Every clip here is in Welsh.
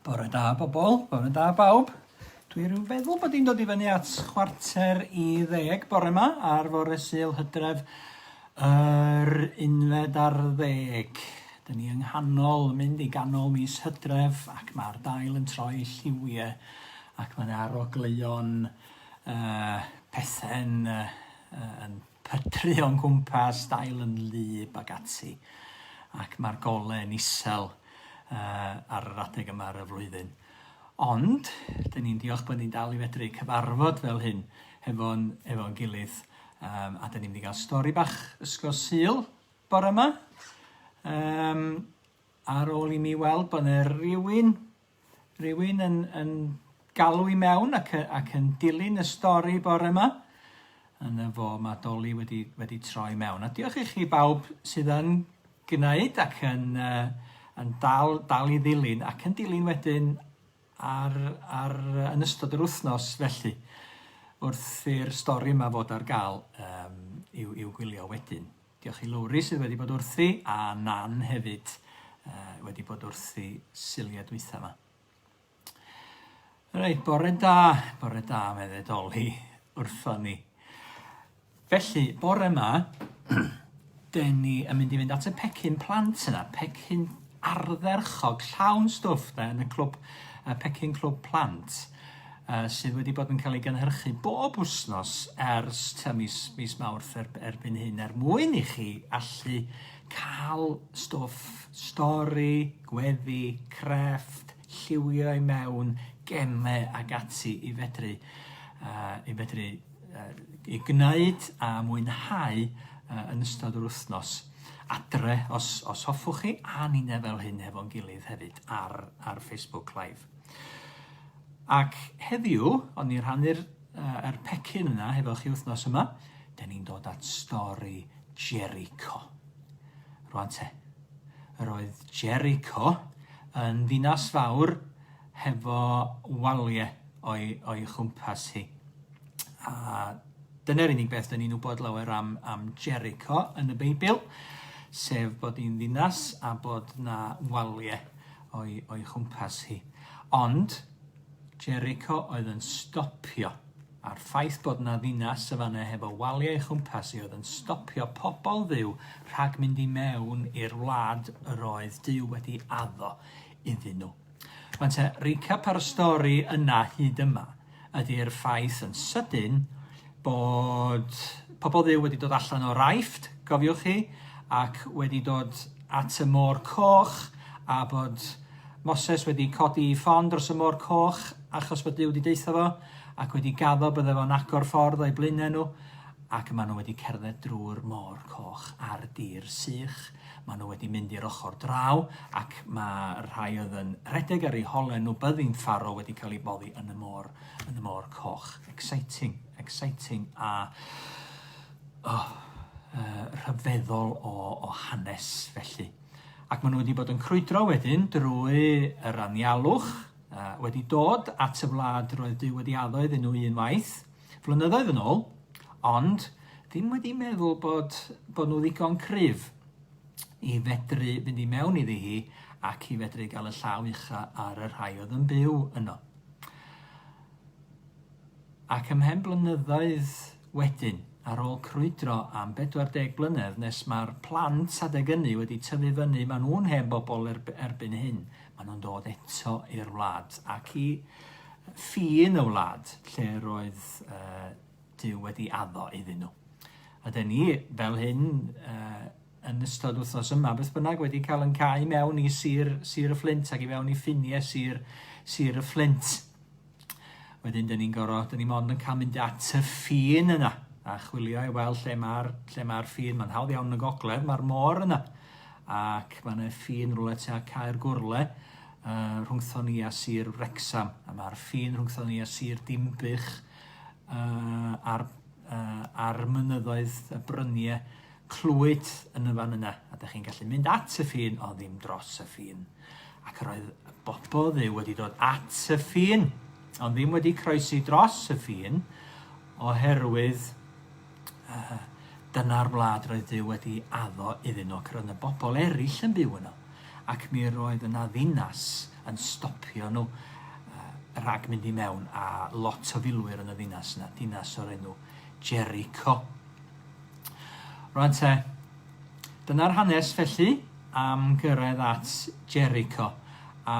Bore da bobl, bore da bawb. Dwi rhyw feddwl bod i'n dod i fyny at chwarter i ddeg bore yma ar fore syl hydref yr unfed ar ddeg. Dyn ni yng nghanol, mynd i ganol mis hydref ac mae'r dail yn troi lliwiau ac mae yna arogleuon Yy pethe'n yy yn pytru o'n cwmpas, dail yn wlyb ac ati. Ac mae'r gole yn isel yy ar yr adeg yma ar y flwyddyn. Ond, dyn ni'n diolch bod ni'n dal i fedru cyfarfod fel hyn hefo'n efo gilydd um, a dyn ni'n mynd i gael stori bach ysgol syl bore yma. Um, ar ôl i mi weld bod yna rhywun Rhywun yn, yn galw i mewn ac, ac yn dilyn y stori bore yma. Yn y fo, mae Dolly wedi, wedi troi mewn. A diolch i chi bawb sydd yn gwneud ac yn, uh, yn dal, dal i ddilyn ac yn dilyn wedyn ar, ar, yn ystod yr wythnos felly wrth i'r stori yma fod ar gael um, i'w, i'w gwylio wedyn. Diolch i Lowri sydd wedi bod wrthi, a Nan hefyd uh, wedi bod wrthi siliau dwytha yma. Reit, bore da, bore da, mae ddedoli wrtho ni. Felly, bore yma, den ni yn mynd i fynd at y pecyn plant yna, pecyn ardderchog, llawn stwff da, yn y clwb, y pecyn clwb plant. uh, sydd wedi bod yn cael ei gynhyrchu bob wythnos ers ta mis, mis Mawrth er, erbyn hyn er mwyn i chi allu cael stwff stori, gweddi, crefft, lliwio i mewn, gemau ac ati i fedru, uh, i fedru uh, i gwneud a mwynhau uh, yn ystod yr wythnos adre os, os hoffwch chi a ni'n efel hyn hefo'n gilydd hefyd ar, ar Facebook Live. Ac heddiw, o'n i'n rhannu'r uh, er pecyn yna hefo chi wythnos yma, da ni'n dod at stori Jericho. Rwan te, yr oedd Jericho yn ddinas fawr hefo waliau o'i, o'i chwmpas hi. A dyna'r unig beth da ni'n wybod lawer am, am Jericho yn y Beibl, sef bod hi'n ddinas a bod na waliau o'i, o'i chwmpas hi. Ond, Jericho oedd yn stopio, a'r ffaith bod na ddinas y fan heb o waliau ei chwmpas i oedd yn stopio pobl dduw rhag mynd i mewn i'r wlad yr oedd Duw wedi addo iddyn nhw. Mae'n te, recap ar y stori yna hyd yma. ydy'r ffaith yn sydyn bod pobl Dduw wedi dod allan o'r Aifft, cofiwch chi, ac wedi dod at y Môr Coch, a bod Moses wedi codi i ffon dros y Môr Coch achos bod Duw wedi deutha fo, ac wedi gaddo bydde fo'n agor ffordd o'i blaenau nhw, ac maen nhw wedi cerdded drwy'r Môr Coch ar dir sych. Maen nhw wedi mynd i'r ochr draw ac mae rhai oedd yn rhedeg ar eu holen nhw byddin ffaro wedi cael ei boddi yn y môr, yn y môr coch. Exciting, exciting a oh, uh, rhyfeddol o, o hanes felly. Ac maen nhw wedi bod yn crwydro wedyn drwy yr anialwch, uh, wedi dod at y wlad roedd Dyw wedi addo iddyn nhw unwaith, Flynyddoedd yn ôl, ond ddim wedi meddwl bod, bod nhw ddigon cryf i fedru fynd i mewn iddi hi ac i fedru gael y llaw ucha ar y rhai oedd yn byw yno. Ac ymhen blynyddoedd wedyn, ar ôl crwydro am 40 blynedd nes mae'r plant adeg ynny wedi tyfu fyny, maen nhw'n hen bobl erbyn hyn, maen nhw'n dod eto i'r wlad ac i Fi yn y wlad lle roedd uh, Dyw wedi addo iddyn nhw. A dyn ni, fel hyn, uh, yn ystod wythnos yma, beth bynnag, wedi cael yn cael mewn i sir, sir y fflint ac i mewn i ffiniau sir, sir y fflint. Wedyn, dyn ni'n gorau, dyn ni mond yn cael mynd at y ffin yna a chwilio i weld lle mae'r lle mae'r ffin. Mae'n hawdd iawn yn y gogledd, mae'r môr yna. Ac mae yna ffin rhywle tua Caer Gwrle, rhwngthon ni a Sir Wrecsam, a mae'r ffin rhwngthon ni a Sir Dinbych uh, a'r, uh, ar mynyddoedd y bryniau clwyd yn y fan yna, a da chi'n gallu mynd at y ffin o ddim dros y ffin. Ac yr oedd y bobl ddew wedi dod at y ffin, ond ddim wedi croesi dros y ffin, oherwydd Yy, dyna'r wlad roedd Duw wedi addo iddyn nhw, ac roedd yna bobl eraill yn byw yno, ac mi roedd yna ddinas yn stopio nhw yy rhag mynd i mewn, a lot o filwyr yn y ddinas yna, dinas o'r enw Jericho. Rwan te, dyna'r hanes felly am gyrraedd at Jericho, a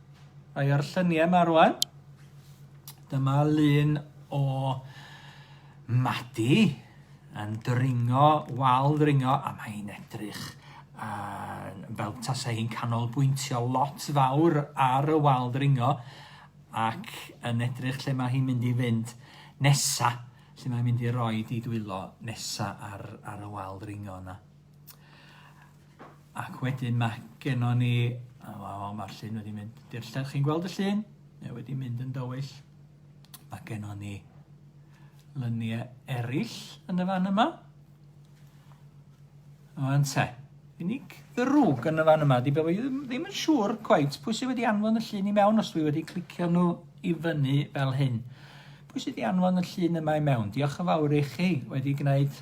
Mae ar lluniau yma rwan. Dyma lun o Madi yn dringo, wal dringo, a mae'n edrych uh, fel tasau hi'n canolbwyntio lot fawr ar y wal dringo ac yn edrych lle mae hi'n mynd i fynd nesa, lle mae'n mynd i roi di dwylo nesa ar, ar y wal dringo yna. Ac wedyn mae gennon ni... O, o, o mae'r llun wedi mynd i'r llall. Chi'n gweld y llun? Mae wedi mynd yn dywyll. Mae gennon ni lyniau eraill yn y fan yma. O'n te. Unig ddrwg yn y fan yma. Di bod fi ddim yn siŵr cwaith pwy sydd wedi anfon y llun i mewn os dwi wedi clicio nhw i fyny fel hyn. Pwy sydd wedi anfon y llun yma i mewn? Diolch yn fawr i chi wedi gwneud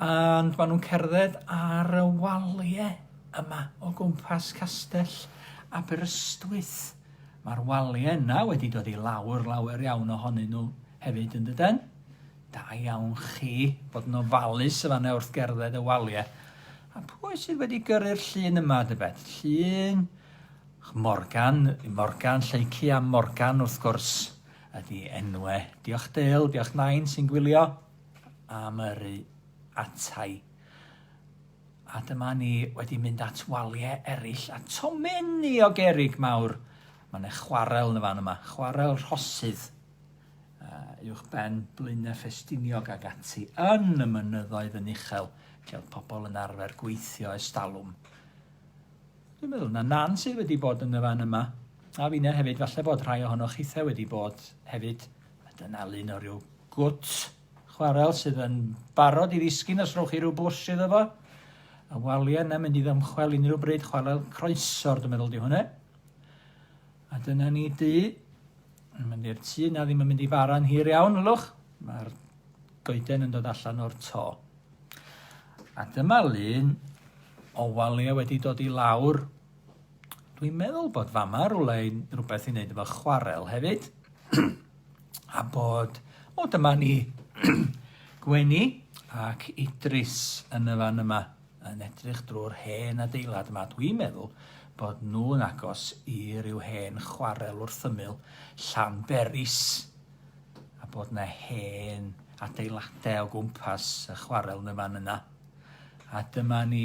And maen nhw'n cerdded ar y waliau yma o gwmpas castell Aberystwyth. Mae'r waliau yna wedi dod i lawr lawer iawn ohonyn nhw hefyd yn dydyn. Da iawn chi bod yn ofalus y fanna wrth gerdded y waliau. A pwy sydd wedi gyrru'r llun yma, dybed? Llun Morgan, Morgan, Lleici a Morgan wrth gwrs ydy enwe. Diolch Dale, diolch Nain sy'n gwylio. am yrru atai. A dyma ni wedi mynd at waliau eraill a tomenni o gerig mawr. Mae yna chwarel yn y fan yma, chwarel rhosydd uwch ben Blaenau Ffestiniog ag ati yn y mynyddoedd yn uchel lle oedd pobl yn arfer gweithio ers talwm. Dwi'n meddwl na nan sydd wedi bod yn y fan yma. A finne hefyd, falle bod rhai ohonoch chithau wedi bod hefyd A dyna lun o ryw gwt chwarel sydd yn barod i ddisgyn os rhowch chi rhyw bwsh iddo fo. Y waliau yna mynd i ddymchwel unrhyw bryd chwarel croesor, dwi'n meddwl di hwnna. A dyna ni du. Yn mynd i'r tu, na ddim yn mynd i fara'n hir iawn, ylwch. Mae'r goeden yn dod allan o'r to. A dyma lun o waliau wedi dod i lawr Dwi'n meddwl bod fama rwle i rhywbeth i wneud efo chwarel hefyd. a bod... O, dyma ni Gwenny ac Idris yn y fan yma yn edrych drwy'r hen adeilad yma. Dwi'n meddwl bod nhw'n agos i ryw hen chwarel wrth ymyl Llanberis a bod na hen adeiladau o gwmpas y chwarel yn y fan yna. A dyma ni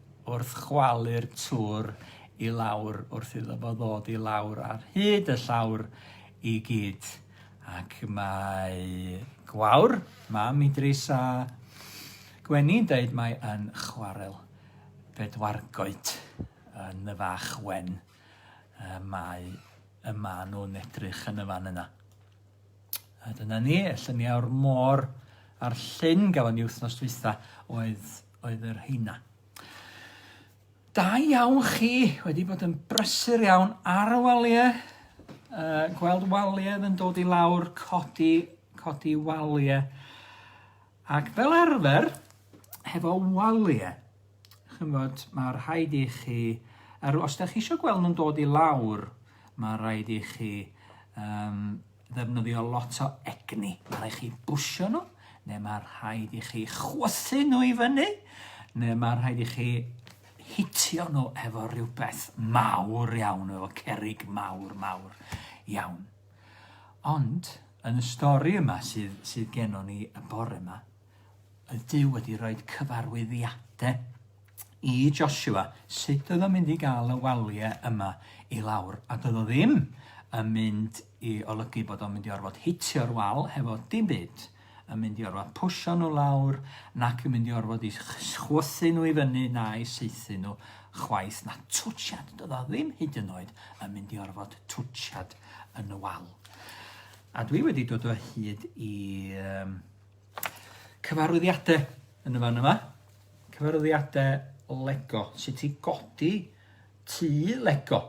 wrth chwalu'r tŵr i lawr wrth iddo fo ddod i lawr ar hyd y llawr i gyd. Ac mae Gwawr, mam Idris a Gwenni'n deud mae yn chwarel bedwargoed yn y fach wen y mae y ma nhw'n edrych yn y fan yna. A dyna ni, y lluniau o'r môr a'r llyn gafon ni wythnos dwytha oedd oedd y rheina. Da iawn chi, wedi bod yn brysur iawn ar y waliau, uh, gweld waliau yn dod i lawr, codi, codi waliau. Ac fel arfer, hefo waliau, chymod, mae rhaid i chi, er, os da chi eisiau gweld nhw'n dod i lawr, mae rhaid i chi um, ddefnyddio lot o egni. Mae rhaid chi bwsio nhw, neu mae rhaid i chi chwythu nhw i fyny, neu mae rhaid i chi hitio nhw efo rhywbeth mawr iawn, efo cerig mawr, mawr iawn. Ond, yn y stori yma sydd, sydd genon ni y bore yma, y Dyw wedi rhoi cyfarwyddiadau i Joshua sut oedd o'n mynd i gael y waliau yma i lawr, a doedd o ddim yn mynd i olygu bod o'n mynd i orfod hitio'r wal hefo dim byd, yn mynd i orfod pwysio nhw lawr, nac yn mynd i orfod i chwythu nhw i fyny na i saethu nhw chwaith, na twtshad, doedd o ddim hyd yn oed yn mynd i orfod twtshad yn y wal. A dwi wedi dod o hyd i um, cyfarwyddiadau yn y fan yma. Cyfarwyddiadau Lego, sut i godi tŷ Lego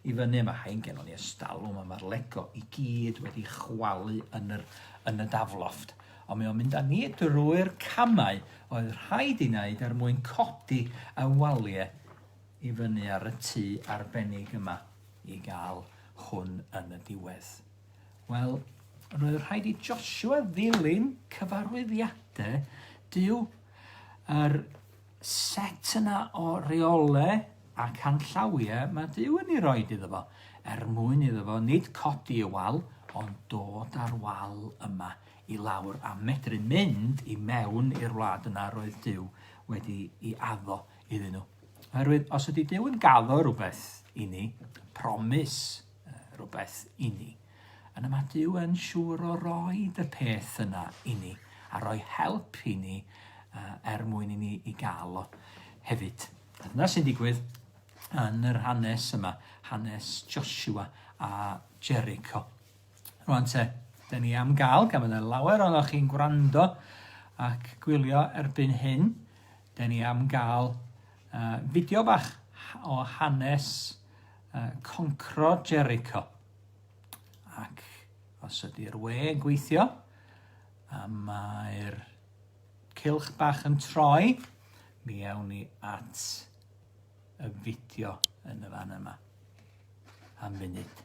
i fyny. Mae rhain gennon ni ystal yma, mae'r Lego i gyd wedi chwalu yn, yr, yn y dafloft. Ond mae o'n mynd â ni drwy'r camau oedd rhaid i wneud er mwyn codi y waliau i fyny ar y tŷ arbennig yma i gael hwn yn y diwedd. Wel, roedd rhaid i Joshua ddilyn cyfarwyddiadau Dyw Yr set yna o reole a canllawie mae Duw yn ei roed iddo fo, er mwyn iddo fo nid codi y wal, ond dod â'r wal yma i lawr a medru mynd i mewn i'r wlad yna roedd Duw wedi i addo iddyn nhw. Oherwydd, os ydy Duw yn gaddo rhywbeth i ni, promis, rhywbeth inni. Yna mae Duw yn siŵr o roi y peth yna inni a rhoi help inni uh, er mwyn inni i gael o hefyd. A dyna sy'n digwydd yn yr hanes yma, hanes Joshua a Jericho. Rwan te, da ni am gael, gan fydda lawer o'n o'ch chi'n gwrando ac gwylio erbyn hyn, da ni am gael uh, fideo bach o hanes uh, concro Jericho. Ac os ydy'r we yn gweithio, a mae'r cilch bach yn troi, mi awn ni at y fideo yn y fan yma. Am funud.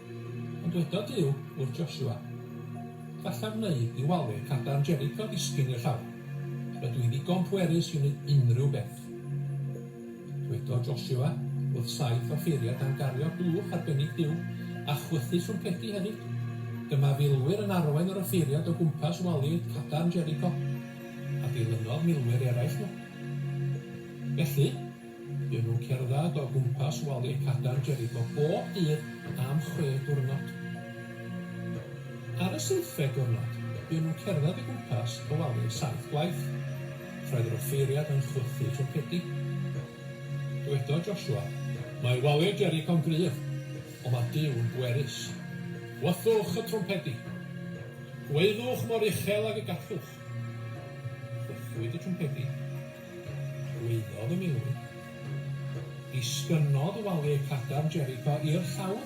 Ond dyweda Duw wrth Joshua, Gallaf wneud i walwyr cadarn Jericho ddisgyn i'r llawr. Rydw i ddigon pwerus i wneud unrhyw beth. Dwedodd Joshua wrth saith offeiriad dan gario blwch arbennig Duw, a chwythu trwmpedi hefyd. Dyma filwyr yn arwain yr offeiriad o gwmpas walwyr cadarn Jericho, a dilynodd milwyr eraill nhw. Felly, Byddwn yn cerdded o gwmpas wali'r Cadar Jerico bob dydd am chwe diwrnod. Ar y seithfed diwrnod, buon nhw'n cerdded o gwmpas y wali am saith gwaith. Roedd yr offeiriad yn chwythu twmpedi. Dywedodd Joshua, Mae wali'r Jerico'n gryf, ond mae Duw yn bwerus. Gwythwch y twmpedi. Gwaeddwch mor uchel ag y gallwch. Gwythwyd y twmpedi. Llwyddodd y milwr. Disgynnodd waly'r cadarn Jericho i'r llawr.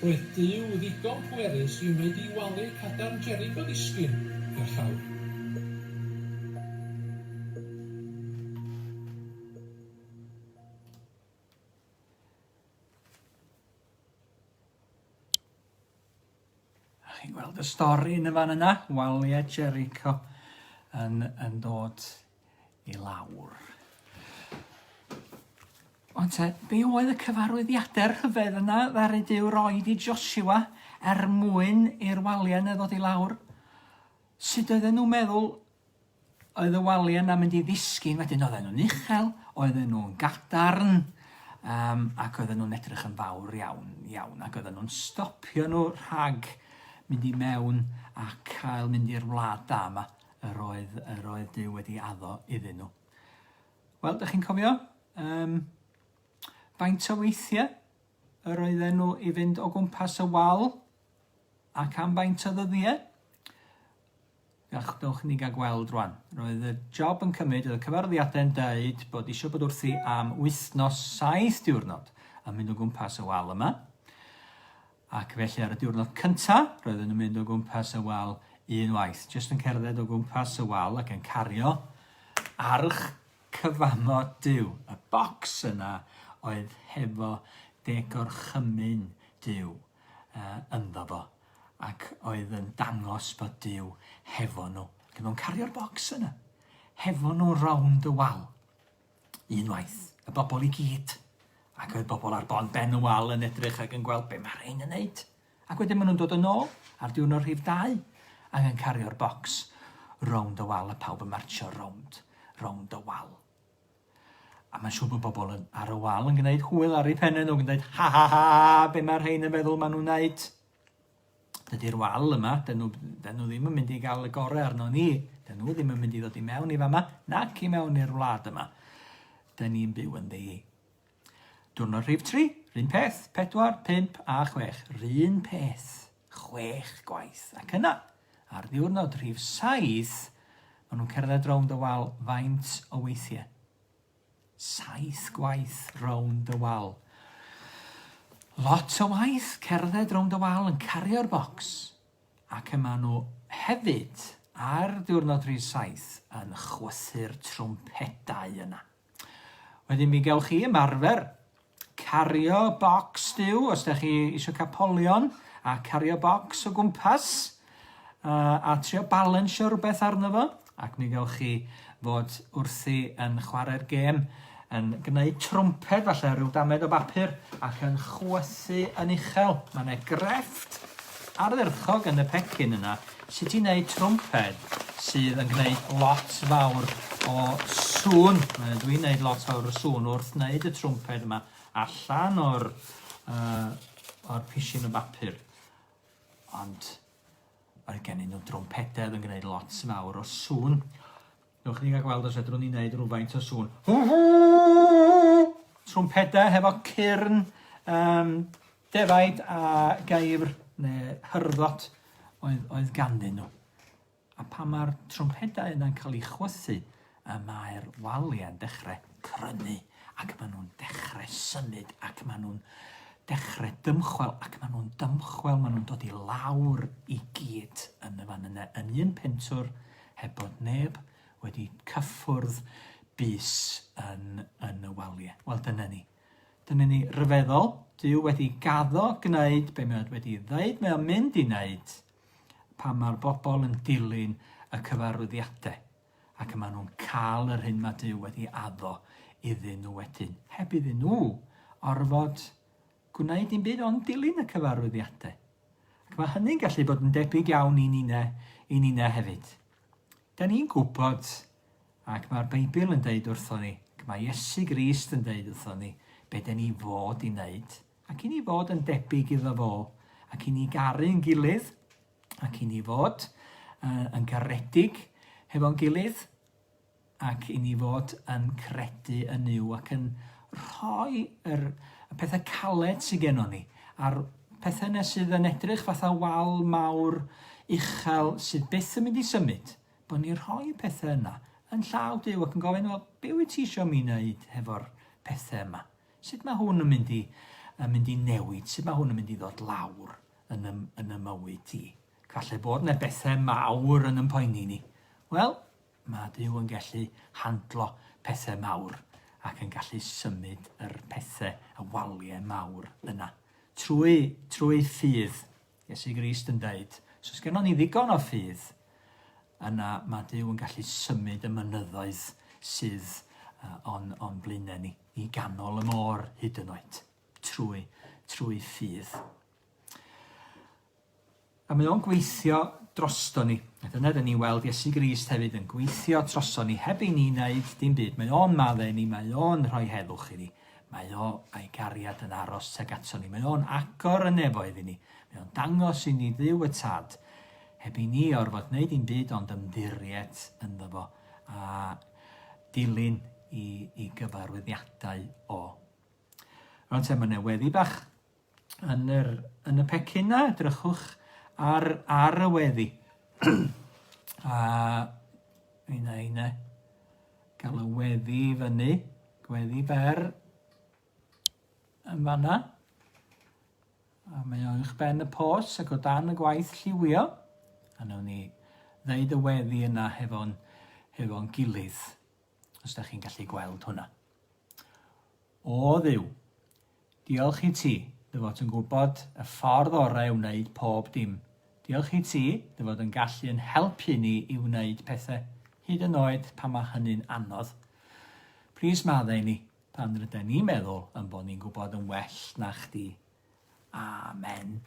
Roedd Duw ddigon pwerus i wneud i waly'r cadarn Jericho ddisgyn i'r llawr. A chi'n gweld y stori yn y fan yna? Waliau Jericho yn, yn dod i lawr. Ond te, be oedd y cyfarwyddiadau'r rhyfedd yna ddaru Dyw roi i Joshua er mwyn i'r waliau yna ddod i lawr? Sut oedden nhw'n meddwl Oedd y waliau'n na mynd i ddisgyn wedyn, oedden nhw'n uchel, oedden nhw'n gadarn, um, ac oedden nhw'n edrych yn fawr iawn, iawn, ac oedden nhw'n stopio nhw rhag mynd i mewn a cael mynd i'r wlad da yma, yr oedd, yr oedd Dyw wedi addo iddyn nhw. Wel, ydych chi'n cofio? Um, faint o weithiau yr oedden nhw i fynd o gwmpas y wal ac am faint o ddyddiau? Ych, dowch i ni gael gweld rwan. Roedd y job yn cymryd, oedd y cyfarwyddiadau'n deud bod eisiau bod wrthi am wythnos saith diwrnod yn mynd o gwmpas y wal yma. Ac felly ar y diwrnod cynta, roedden nhw'n mynd o gwmpas y wal un waith, jyst yn cerdded o gwmpas y wal ac yn cario arch cyfamo Dyw. Y bocs yna oedd hefo degorchymyn Dyw uh, ynddo fo. Ac oedd yn dangos bod Duw hefo nhw. Ac oedd o'n cario'r bocs yna. Hefo nhw rownd y wal. Unwaith, y bobl i gyd. Ac oedd bobl ar bon ben y wal yn edrych ac yn gweld be mae rhain yn neud. Ac wedyn maen nhw'n dod yn ôl ar diwrnod rhif dau ac yn cario'r bocs rownd y wal a pawb yn martio rownd, rownd y wal. A mae'n siŵr bod bobl yn ar y wal yn gwneud hwyl ar ei phennau nhw, yn gwneud ha ha ha, be mae'r rhain yn feddwl maen nhw'n wneud? Dydy'r wal yma, dyn nhw, dyn nhw ddim yn mynd i gael y gorau arno ni. Dyn nhw ddim yn mynd i ddod i mewn i fama, nac i mewn i'r wlad yma. Dyn ni'n byw yn ddi Diwrnod rhif tri, 'r un peth, pedwar, pump a chwech, 'r un peth, chwech gwaith, ac yna, ar ddiwrnod rhif saith, maen nhw'n cerdded rownd y wal faint o weithiau? Saith gwaith rownd y wal. Lot o waith cerdded rownd y wal yn cario'r bocs, ac y maen nhw hefyd ar ddiwrnod rhif saith yn chwythu'r trwmpedau yna. Wedyn mi gewch chi ymarfer cario bocs stiw os da chi eisiau cael polion a cario bocs o gwmpas a, a trio balansio rhywbeth arno fo ac mi gewch chi fod wrthi yn chwarae'r gêm yn gwneud trwmped falle rhyw damed o bapur ac yn chwythu yn uchel. Mae yna grefft ardderchog yn y pecyn yna Sut i wneud twmped sydd yn gwneud lot fawr o sŵn. Wel dwi'n gwneud lot fawr o sŵn wrth wneud y twmped yma allan o'r, uh, o'r pishin o bapur. Ond mae gen i nhw drwmpededd yn gwneud lot fawr o sŵn. Newch ni gael gweld os fedrwn ni wneud rhywfaint o sŵn. Trwmpedau hefo cyrn um, defaid a gaifr neu hyrddot oedd, oedd ganddyn nhw. A pan mae'r trwmpedau yna'n cael eu chwythu, y mae'r waliau'n dechrau crynu ac maen nhw'n dechrau symud ac maen nhw'n dechrau dymchwel ac maen nhw'n dymchwel, maen nhw'n dod i lawr i gyd yn y fan yna, yn un pentwr, heb bod neb wedi cyffwrdd bys yn, yn y waliau. Wel, dyna ni. Dyna ni ryfeddol. Dyw wedi gaddo gwneud be mae wedi ddeud mae o'n mynd i wneud pan mae'r bobl yn dilyn y cyfarwyddiadau ac yma nhw'n cael yr hyn mae Dyw wedi addo iddyn nhw wedyn, heb iddyn nhw orfod gwneud dim byd ond dilyn y cyfarwyddiadau. Ac mae hynny'n gallu bod yn debyg iawn i ninne, i ninne hefyd. Da ni'n gwybod, ac mae'r Beibl yn deud wrthon ni, ac mae Iesu Grist yn deud wrthon ni, be da ni fod i wneud, ac i ni fod yn debyg iddo fo, ac i ni garu'n gilydd, ac i ni fod uh, yn garedig hefo'n gilydd, ac i ni fod yn credu yn Nuw ac yn rhoi yr, y pethau caled sydd gennon ni, a'r pethau yna sydd yn edrych fatha wal mawr uchel sydd byth yn mynd i symud, bod ni'n rhoi y pethau yna yn llaw Duw ac yn gofyn, wel, be wyt ti eisiau mi wneud hefo'r pethau yma? Sut mae hwn yn mynd i, yn mynd i newid? Sut mae hwn yn mynd i ddod lawr yn y, yn y mywyd ti? Falle bod yna bethau mawr yn ympoeni ni. Wel, Mae Duw yn gallu handlo pethau mawr ac yn gallu symud yr pethau, y waliau mawr yna. Trwy, trwy ffydd, Iesu Grist yn dweud, os oes gennym ni ddigon o ffydd, yna mae Duw yn gallu symud y mynyddoedd sydd uh, o'n, on blaenau ni, i ganol y môr hyd yn oed, trwy, trwy ffydd. A mae o'n gweithio drosto ni. A dyna dyn ni'n weld Iesu Grist hefyd yn gweithio troso ni heb i ni wneud dim byd. Mae o'n madde ni, mae o'n rhoi heddwch i ni. Mae o a'i gariad yn aros tuag ato ni. Mae o'n agor y nefoedd i ni. Mae o'n dangos i ni dduw y tad heb i ni orfod wneud dim byd ond ymddiried ynddo fo a dilyn i, i gyfarwyddiadau o. Rwan te, mae yna weddi bach yn yr yn y pecyn 'na edrychwch ar ar y weddi. a un a un e. Gael y weddi i fyny, gweddi fer yn fanna. A mae o'n eich ben y pos ac o dan y gwaith lliwio. A nawn ni ddeud y weddi yna hefo'n hefo'n gilydd. os da chi'n gallu gweld hwnna. O ddiw, diolch i ti, dy fod yn gwybod y ffordd orau o wneud pob dim. Diolch i ti, dy fod yn gallu yn helpu ni i wneud pethau, hyd yn oed pan mae hynny'n anodd. Plis maddau ni pan rydyn ni'n meddwl yn bod ni'n gwybod yn well na chdi. Amen.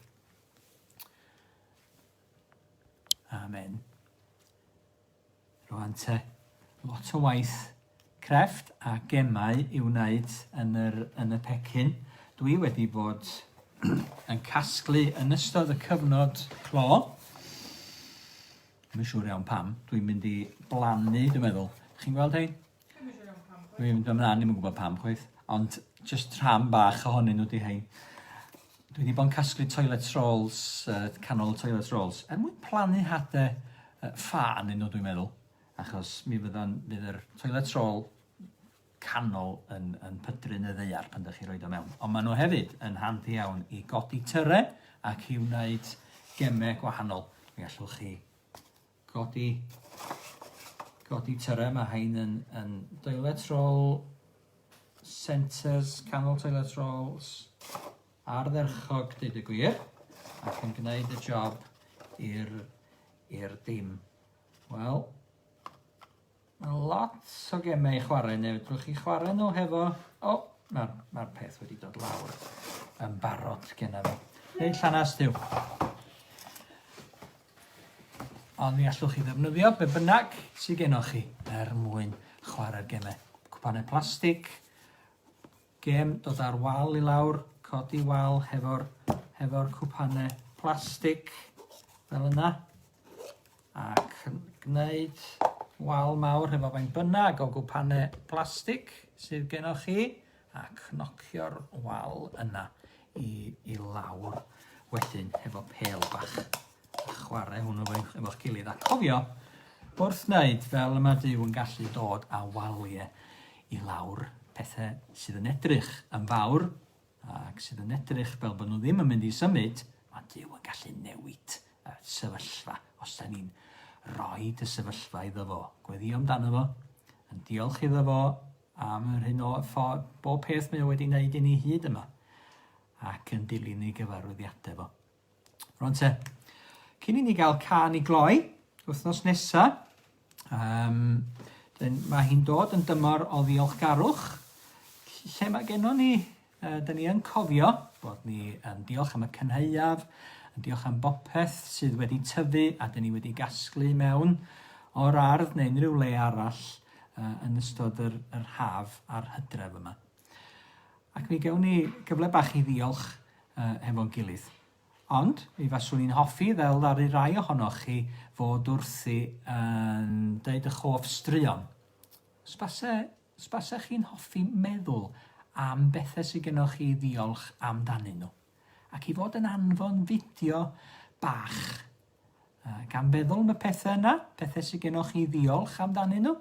Amen. Rwan te, lot o waith crefft a gemau i wneud yn yr yn y pecyn. Dwi wedi bod yn casglu yn ystod y cyfnod clo. Dwi'n siŵr iawn pam. Dwi'n mynd i blannu, dwi'n meddwl. Chi'n gweld hein? Dwi'n mynd ymlaen, ddim yn gwybod pam chwaith, ond jyst rhan bach ohonyn nhw di hein. Dwi wedi bod yn casglu toilet rolls, uh, canol toilet rolls, er mwyn plannu hade uh, ffa yn nhw dwi'n meddwl, achos mi fydda'n fydd yr toilet roll canol yn, yn pydru'n y ddeiar pan ydych chi roed o mewn. Ond maen nhw hefyd yn handi iawn i godi tyre ac i wneud gemau gwahanol. Mi allwch chi Codi, codi tyrra, mae hein yn, yn toilet roll, centres, canol toilet rolls, ardderchog, dweud y gwir, ac yn gwneud y job i'r, i'r dim. Wel, Mae lot o gemau i chwarae neu fedrwch chi chwarae nhw hefo... O! Mae'r ma peth wedi dod lawr yn barod genna fi. Nid llanas diw. Ond mi allwch chi ddefnyddio be bynnag sydd gennych chi er mwyn chwarae'r gemau. Cwpanau plastig, gem dod ar wal i lawr, codi wal hefo'r hefo cwpanau plastig, fel yna. Ac yn gwneud wal mawr hefo faint bynnag o gwpanau plastig sydd gennych chi a cnocio'r wal yna i, i lawr wedyn hefo pel bach a chwarae hwnnw efo'ch gilydd. A cofio, wrth wneud fel y mae Dyw yn gallu dod a waliau i lawr pethau sydd yn edrych yn fawr ac sydd yn edrych fel bod nhw ddim yn mynd i symud, mae Duw yn gallu newid y sefyllfa os da ni'n rhoi y sefyllfa iddo fo, gweddio amdano fo, yn diolch iddo fo am yr hyn o ffordd bob peth mae o wedi wneud i ni hyd yma, ac yn dilyn ei gyfarwyddiadau fo. Rwan te, cyn i ni gael can i gloi, wythnos nesa, um, mae hi'n dod yn dymor o ddiolchgarwch, lle mae gennon ni, uh, da ni yn cofio bod ni yn diolch am y cynhauaf, yn diolch am bopeth sydd wedi tyfu a da ni wedi gasglu mewn o'r ardd neu unrhyw le arall uh, yn ystod yr, yr haf a'r hydref yma. Ac mi gewn ni gyfle bach i ddiolch uh, hefo'n gilydd. Ond, mi faswn i'n hoffi, fel ddaru rai ohonoch chi, fod wrthi yn deud ych hoff straeon. Sbase, sbase chi'n hoffi meddwl am bethau sydd gennych chi ddiolch amdanyn nhw. Ac i fod yn anfon fideo bach Gan feddwl am y pethau yna, pethau sydd gennych chi ddiolch amdanyn nhw,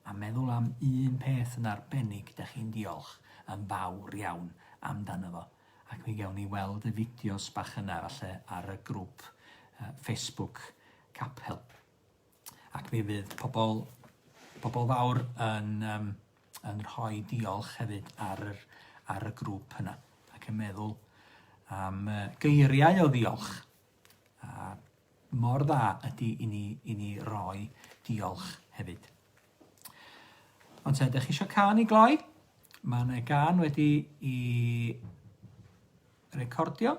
a meddwl am un peth yn arbennig da chi'n diolch yn fawr iawn amdano fo. Ac mi gewn ni weld y fideos bach yna falle ar y grŵp uh, Facebook Capel. Ac mi fydd pobl, pobl fawr yn, um, yn rhoi diolch hefyd ar, yr, ar y grŵp yna ac yn meddwl am uh, geiriau o ddiolch A mor dda ydy i ni i ni roi diolch hefyd. Ond te, ydych chi eisiau can i gloi? Mae yna gan wedi i recordio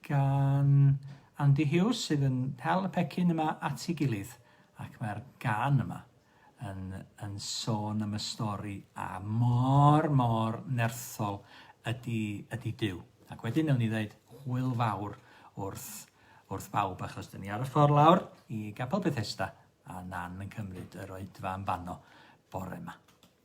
gan Andy Hughes sydd yn hel y pecyn yma at ei gilydd ac mae'r gan yma. yn yn sôn am y stori a mor mor nerthol ydy ydy Duw. Ac wedyn newn ni ddeud hwyl fawr wrth wrth bawb achos 'dyn ni ar y ffordd lawr i Gapel Bethesda a Nan yn cymryd yr oedfa yn fanno bore 'ma.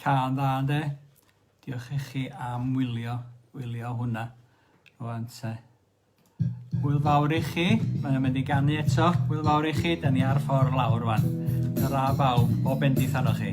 Cân dda ynde? Diolch i chi am wylio, wylio hwnna. Rwan te. Hwyl fawr i chi. Mae'n mynd i ganu eto. Hwyl fawr i chi. Da ni ar ffordd lawr rwan. Ta-ra bawb, bob bendith arnoch chi.